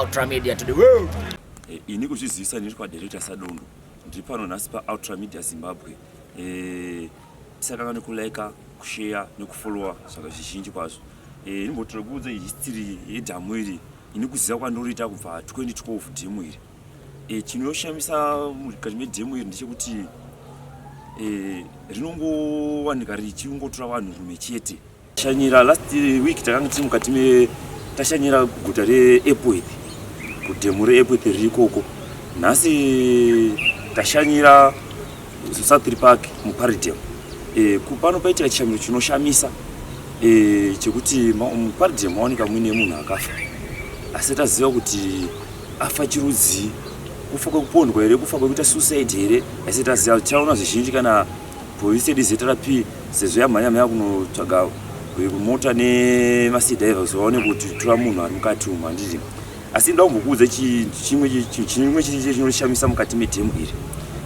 Ultra Media to the world. Eh, ini kuzvizivisa ndiri kwadirector Sadundu ndiri pano nhasi paultra media zimbabwe eh, tisakanga nekulaika kusheya nekufollowa zvaka zvizhinji kwazvo eh, inombotira kuudza history yedhamu iri ini kuziva kwandoriita kubva 2012 dhemu iri eh, chinoshamisa mukati medhemu iri ndechekuti eh, rinongowanika richingotora vanhu rume chete Shanyira last week takanga tiri mukati me tashanyira guta reEpworth kudhemu reEpworth riri ikoko. Nhasi tashanyira Southry Park muParidem. E, pano paitika chishamiro chinoshamisa e, chekuti muParidem maoneka muine munhu akafa asi taziva kuti afa chirudzii kufa kwekupondwa here kufa kwekuita suicide here asi taziva tichaona zvizhinji kana Police yedu ZRP sezvo yamhanya mhanya kunotsvaga mota nemasidhaiva kuti vaone kuti tora munhu ari mukati umu handiti asi nda kumbokuudza chimwe chimwe chiri chiri chinoshamisa mukati medhemu iri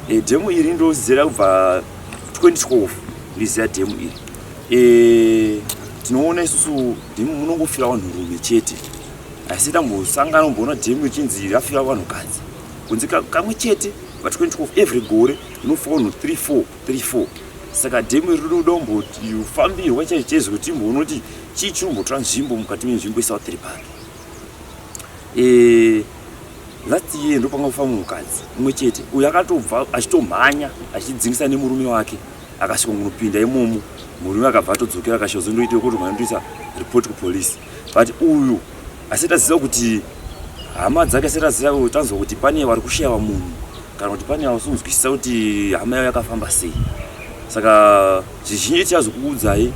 e, dhemu iri ndozera kubva 2012 ndiziva dhemu iri e, tinoona isusu dhemu munongofira vanhu rume chete asi tambosangana kumboona dhemu ichinzi rafira vanhu kadzi kunzi kamwe chete pa 2012 every gore Mufono 3434 saka demo iri rinoda kumbofambirwa chaicho chaizo kuti imboona kuti chii chiri kumbotora nzvimbo mukati menzvimbo yesouth repark eh, last year ndopanga kufamba mukadzi umwe chete uyo akatobva achitomhanya achidzingisa nemurume wake akasvika kunopinda imomo murume akabva atodzokera akasvika zondoita kuti mwandoisa report kupolice but uyu asati aziva kuti hama dzake asati aziva tanzwa kuti pane vari kushaya munhu kana kuti pane yausi kunzwisisa kuti hama yayo yakafamba sei saka zvizhinji tichazokuudzai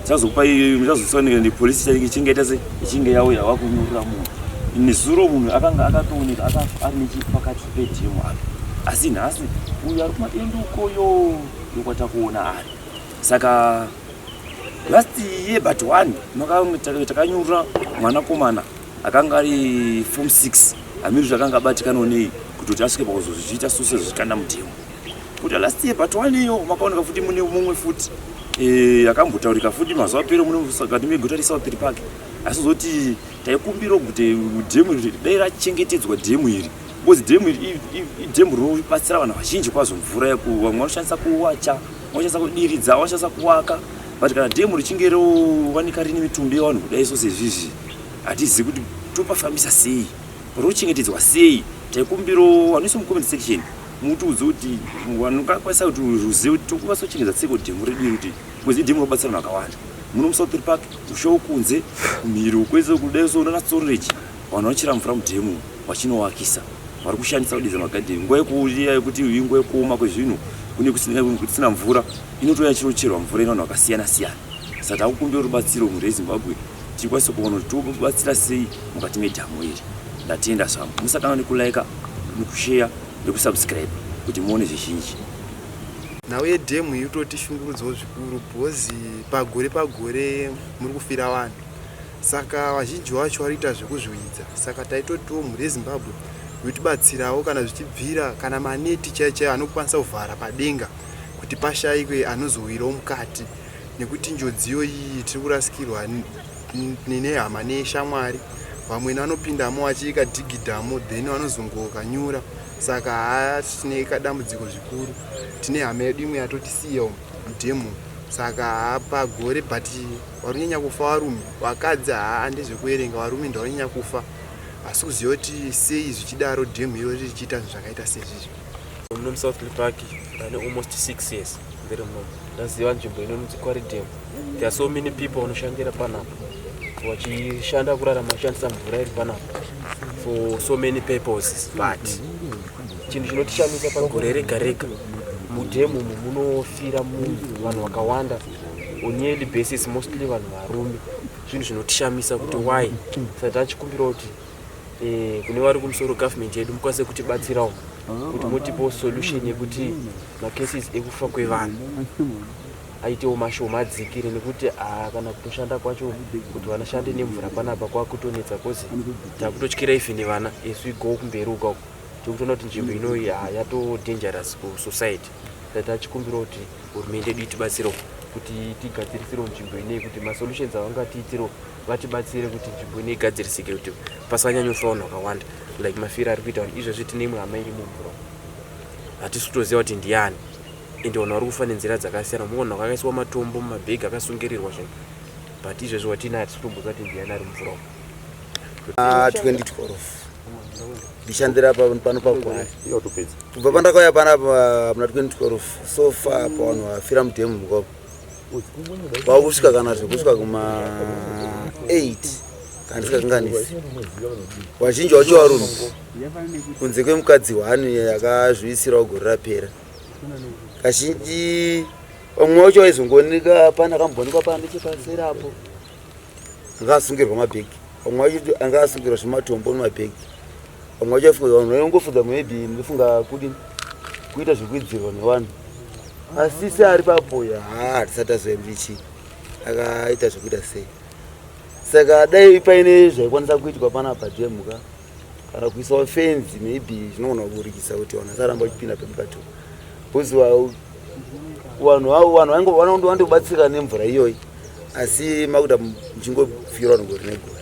tichazokupai muchazosoneka nepolisi chainge ichingaita se ichinge yauya wakunyurira munhu nezuro munhu akanga akatooneka akafa ari nechepakati pedhemu apo asi nhasi uyo ari kumadendo ukoyo yokwatakuona ari saka last year but one takanyurira mwanakomana akanga ari form 6 amiri zvakanga abatikano nei kutoti asvike pakuzozviita suse zvichikanda mutemo kuti last year but one iyo makaoneka futi mune mumwe futi eh, akambotaurika futi mazuva pere munekati meguta resaupiri pake asi zoti taikumbira kuti dhemu iri dai rachengetedzwa dhemu iri because dhemu iri idhemu rinobatsira vanhu vazhinji kwazvo mvura yekuva vamwe vanoshandisa kuwacha vanoshandisa kudiridza vanoshandisa kuwaka but kana dhemu richinge rovanika rine mitumbi yevanhu kudai so sezvizvi hatizivi kuti topafambisa sei rochengetedzwa sei taikumbiro vanoisa mucomment section mutiudze kuti vanokwanisa kuti ruzive kuti tokwanisa kuchengetedza tseko dhemu redu iri kuti kwezi dhemu robatsira vanhu vakawanda muno musouthir park ushawo kunze mhiri ukwese kudai so unana storage vanhu vachira mvura mudhemu vachinowakisa vari kushandisa kudidza magadheni nguva yekuuya yekuti inguva yekuoma kwezvinhu kune kusina mvura inotouya chinocherwa mvura ino vanhu vakasiyana siyana saka takukumbira rubatsiro mhuri yezimbabwe tikwanise kuona kuti tobatsira sei mukati medhamu iri ndatenda zvangu musatanga nekulaika nekusheya nekusubscribe kuti muone zvizhinji nhau yedhemu iyi utoti shungurudzawo zvikuru bhozi pagore pagore muri kufira vanhu saka vazhinji vacho varikuita zvekuzviwidza saka taitotiwo mhuri yezimbabwe yotibatsirawo kana zvichibvira kana maneti chaichaiyo anokwanisa kuvhara padenga kuti pashayikwe anozowirawo mukati nekuti njodziyo iyi tiri kurasikirwa nehama neshamwari vamwe vanopindamo vachiika dhigidhamo then vanozongokanyura saka haatine kadambudziko zvikuru tine hama yedu imwe yatotisiya mudemo saka pagore but varikunyanya kufa varume vakadzi haa ndezvekuverenga varume ndavanyanya kufa asi kuziva kuti sei zvichidaro dhemu iro richiita zvinhu zvakaita sezvizvi muno musouth park ndane almost six years ndiri muno ndaziva nzvimbo inonzi quaridem there are so many people vanoshandira panapa vachishanda kurarama vachishandisa mvura iri panapa for so many purposes but chinhu chinotishamisa pagore rega rega mudhemu umu munofira munhu vanhu vakawanda on yearly basis mostly vanhu varume zvinhu zvinotishamisa kuti why sati achikumbira kuti Eh, kune vari kumusoro government yedu mukwanise kutibatsirawo kuti mutipewo solution yekuti macases ekufa kwevanhu aitewo mashoma adzikire nekuti ah, kana kutoshanda kwacho kuti vanashande nemvura panapa kwakutonetsa bcause takutotyira even vana as we go kumberi uka uko tikutoona kuti nzvimbo inoyi ah, yato dangerous kusociety sa tachikumbira kuti hurumende yedu itibatsirewo kuti tigadzirisiro nzvimbo inei kuti masolutions avangatiitiro vatibatsire kuti nzvimbo ine igadzirisike kuti pasanyanyofa vanhu vakawanda like mafiro ari kuita vanhu izvezvi tine imwe hama iri mumvura hatisi kutoziva kuti ndiani ende vanhu vari kufa nenzira dzakasiyana muona kwakaiswa matombo mumabhegi akasungirirwa zvinhu but izvezvi watina hatisi kutomboziva kuti ndiani ari mumvura 2012 ndishandira pano pagwaya kubva pandakauya panapa muna 2012 so far pavanhu vafira mudhemu mukoko kwakusvika kana zvekusvika kuma 8 kana tisingakanganisi vazhinji wacho varume kunze kwemukadzi hwani yakazviisirawo gore rapera kazhinji vamwe wacho vaizongooneka pana kamboonekwa pana nechepaseri apo anga asungirwa mabhegi vamwe vacho anga asungirwa zvematombo nemabhegi vamwe vacho afunga vanhu vaingofunga maybe ndofunga kudi kuita zvekuidzirwa nevanhu asi se ari papoya haa hatisati azoyambichi akaita zvekuita sei saka dai paine zvaikwanisa kuitwa panapa jemhuka kana kuisawo fenzi maybe zvinogona kuburikisa kuti vanhu vasaramba vachipinda pemukati bcause vanhu avo vanhu vainge vanondo vandobatsirika nemvura iyoyi asi makuda muchingofira vanhu gore negore